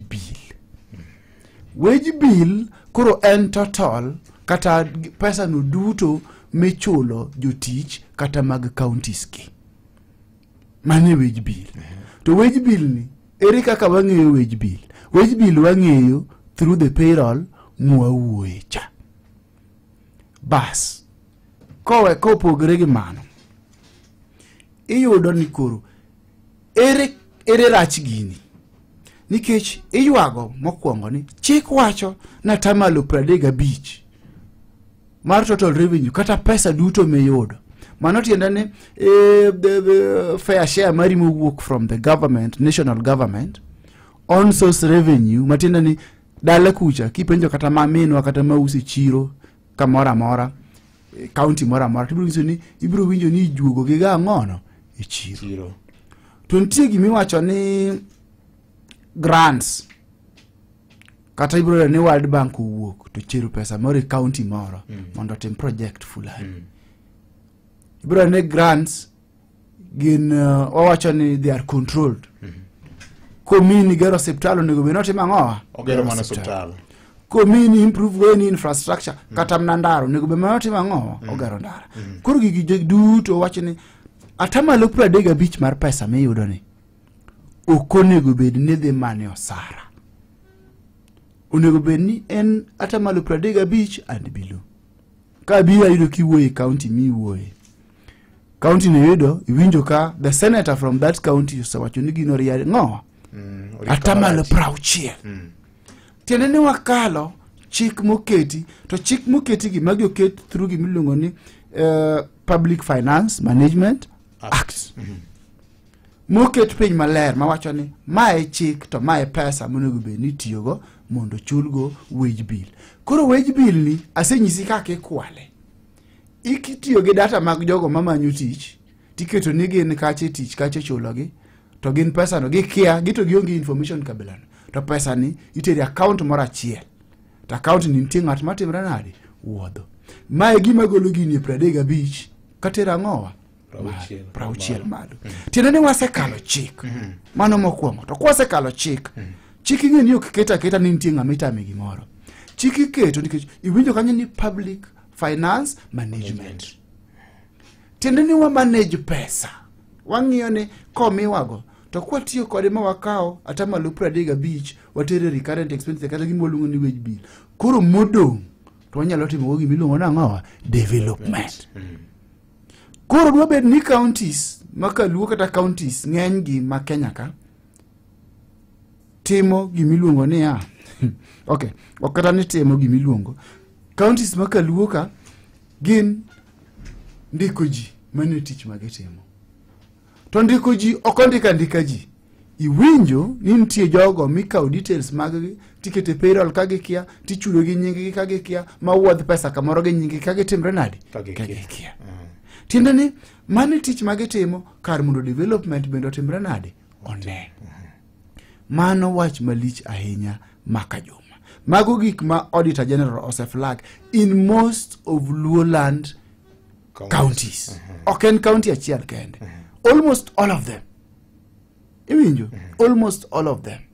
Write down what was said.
bill wage bill koro en total kata pesa no duto michulo jotich kata mag counties gi mane wage bill to wage bill ni ere kaka wang'eyo wage bill wage bill wang'eyo through the payroll mwawuoye cha bas kowe kopogre gi mano iyudo ni koro ere ere rach gini nikech iywago mokwongo ni chik wacho ni atamalo pradek gabich mar total revenue kata pesa duto miyudo mano tiende ni eh, the- the fair share mari mowuok from the government national government on source revenue matiende ni dala kucha kipenjo kata maminwa kata mausi chiro kamoro amora eh, kaunti moro amora tibiro nyiso ni ibiro winjo ni ijuogo gi ga ang'ono e chiro chiro to nitie gima iwacho ni grants kata ibiro yudo ni world bank owuok to chero pesa moro e kaunti moro mondo otim project fulani ibiro yudo ni grants gin uh, wawacho ni they are controlled mm -hmm. komini gero osiptal onego bed notimo ang'owa ogero mana osiptal komini improve weni infrastructure mm -hmm. kata mna ndara onego bed manotimo ang'owa mm -hmm. ogero ndara mm -hmm. koro gigi duto wacho ni atamalo piero adek gabich mar pesa miyudo ni ok onego bed ni dhi mane osara onego bed ni en atamalo piero adek gabich and below ka biro ayudo kiwuoye kaunti miwuoye county no yudo iwinjo ka the senator from that county osewacho ni gino riare ng'owa Mm, orito atamalo marach. prauchiel Mm. tiende ni wakalo chik moketi to chik moketi gi magi oket through gima iluongo ni eh, public finance management act moket piny maler mawacho ni ma e chik to ma e pesa monego bed ni itiyogo mondo ochulgo wage bill koro wage bill ni asenyisi kaka ikwale ikitiyo gi data mag jogo mamanyo tich tiketo ni gin kache tich kache chulogi to gin pesano gikia gito gionge information kabilano to pesani iteri account moro achiel to account ni nitie ng'at matimre nade wuodho mae gima golo gini e pradek abich katero ang'owa Prauchiel. prauchiel malo tiende ni wasekalo chik mano mokwongo to kwasekalo chik chik ing'e ni ok ket aketa ni nitie ng'ama itame gimoro chik iketo nikech iwinjo kanyo ni public finance management tiende ni wa manage pesa wang'iyo ni komiwago to kwatiyo kode ma wakawo ata malo piero adek gabich watere recurrent expense kata gima waluongo ni wage bill koro modong' to wanyalo timogo gima iluongo ni ang'owa development koro dwabed ni counties ma kaluo kata counties ng'enygi ma kenya ka timo gimiluongo niya ok ok kata ni timo gimiluongo counties ma kaluo ka gin ndiko ji mane tich ma gitimo to ndiko ji ok ondika ndika ji iwinjo ni nitie jogo mikawo details maggi tikete payroll ka gikia tichulo gi nyinggi ka gikia ma wuodh pesa kamoro gi nyinggi ka gitimre nadi Ka gikia. gikia tiende ni mane tich ma gitimo kar mondo development bende otimre nade one mano wach malich ahinya maka juma mago gik ma auditor general oseflag in most of luoland counties ok en county achiel kende almost all of them iwinjo almost all of them